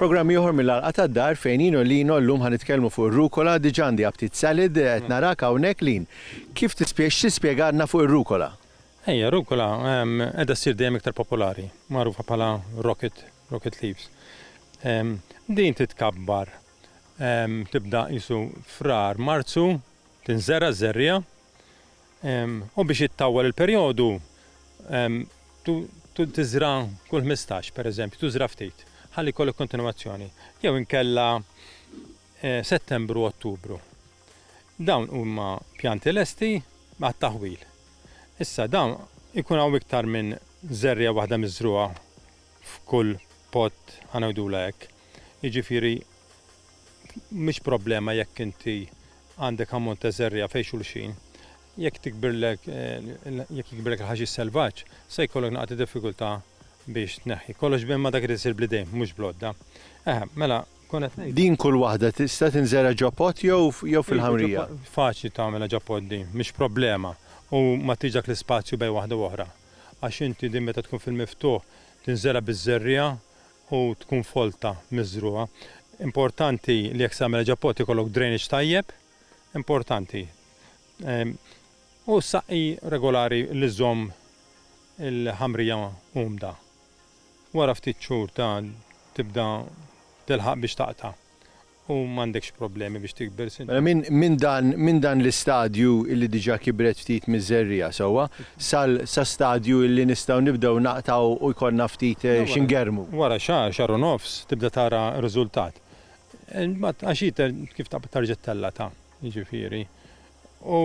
Programm ieħor mill-għalqa tad-dar fejn Ino Lino llum ħa nitkellmu fuq ir-rukola, diġà għandi aptit salad, qed narak hawnhekk Lin. Kif tispjeg x'tispjegalna fuq ir-rukola? Ejja, rukola qiegħda ssir dejjem iktar popolari, magħrufa bħala rocket Rocket Leaves. Din titkabbar, tibda qisu Frar, Marzu, tinżera' ż-żerriegħa, u biex ittawwal il-perjodu tiżra' kull ħmistax, pereżempju, tużra' ftit, ħalli jkollok kontinwazzjoni, jew inkella Settembru, Ottubru. Dawn huma pjanti lesti għat-taħwil. Issa dawn ikun hawn iktar minn żerriegħa waħda miżrugħa f'kull pod, ħa ngħidulha hekk. Jiġifieri mhix problema jekk inti għandek ammont ta' żerriegħa fejn xulxin. Jekk tikbirlek, jekk jikbirlek il-ħaxix selvaġġ, se jkollok naqgħa ta' diffikultà biex tneħħi. Kollox imma dak irid isir bl-idejn, mhux bl-għodda. Eħe, mela, kont qed ngħid. Din kull waħda tista' tinżera' ġo pod jew jew fil-ħamrija? Faċli tagħmilha ġo pod din, mhix problema u ma tix dak l-ispazju bejn waħda u oħra. Għax inti din meta tkun fil-miftuħ tinżera' biż-żerriegħa u tkun folta miżrugħa. Importanti li jekk se tagħmilha ġo pot ikollok drainage tajjeb, importanti. U ssaqqi regolari li żżomm il-ħamrija umda. Wara ftit xhur ta' tibda tilħaq biex taqta'. U m'għandekx problemi biex tikber, Sinjur. Mela minn dan l-istadju illi diġà kibret ftit miż-żerriegħa sewwa, sa stadju illi nistgħu nibdew naqtgħu u jkollna ftit xi ngerrmu. Wara xahar, xahar u nofs, tibda tara riżultat. Imbagħad għax hi kif taqbad terġa' tellata, jiġifieri. U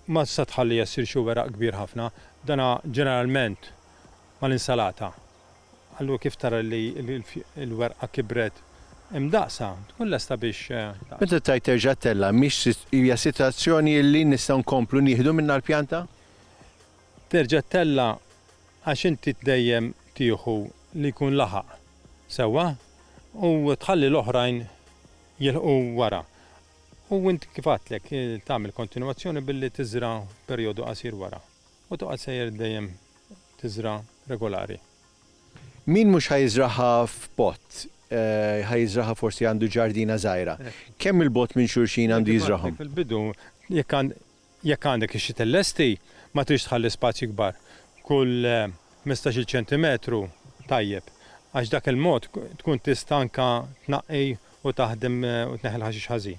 ma tista' tħalliha ssir xi weraq kbir ħafna. Dana ġeneralment mal-insalata. Allura kif tara li l-werqa kibret hemm daqsha, tkun lesta biex. Meta tgħid terġa' ttella' mhix hija sitwazzjoni li nistgħu nkomplu nieħdu minnha l-pjanta? Terġa' ttella' għax inti dejjem tieħu li jkun laħaq sewwa u tħalli l-oħrajn jilħqu wara. U int kif għadtlek tagħmel kontinwazzjoni billi tiżra' perjodu qasir wara. U toqgħod sejjer dejjem tiżra' regolari. Min mhux ħa jiżraha f'pott, ħa jiżraha forsi għandu ġardina żgħira. Kemm il-bogħod minn xulxin għandu jiżrahom? Fil-bidu, jekk għandek ix-xi tellesti, ma tridx tħalli spazji kbar. Kull ħmistax-il ċentimetru tajjeb, għax b'dak il-mod tkun tista' anke tnaqqi u taħdem u tneħħi l-ħaxix ħażin.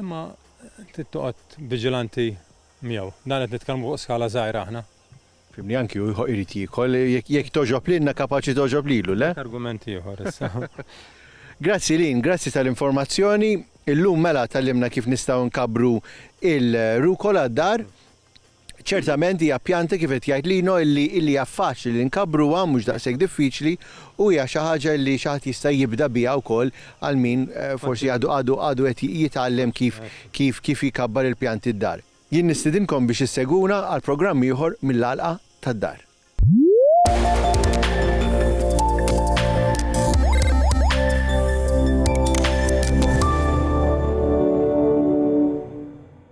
Imma trid toqgħod viġilanti miegħu. Dan qed nitkellmu fuq skala żgħira aħna. Fimni, anki hu jrid jiekol. Jekk togħġob lilna kapaċi togħġob lilu, le? Dak argument ieħor issa. Grazzi Lynn, grazzi tal-informazzjoni. Illum mela tgħallimna kif nistgħu nkabbru il-rucola d-dar. Ċertament hija pjanta kif qed jgħid Lino illi illi hija faċli li nkabbruha, mhux daqshekk diffiċli, u hija xi ħaġa illi xi ħadd jista' jibda biha wkoll għal min forsi għadu għadu għadu qed jitgħallem kif kif kif jkabbar il-pjanti d-dar. Jien nistidinkom biex issegwuna għal programm ieħor mill-Għalqa tad-Dar.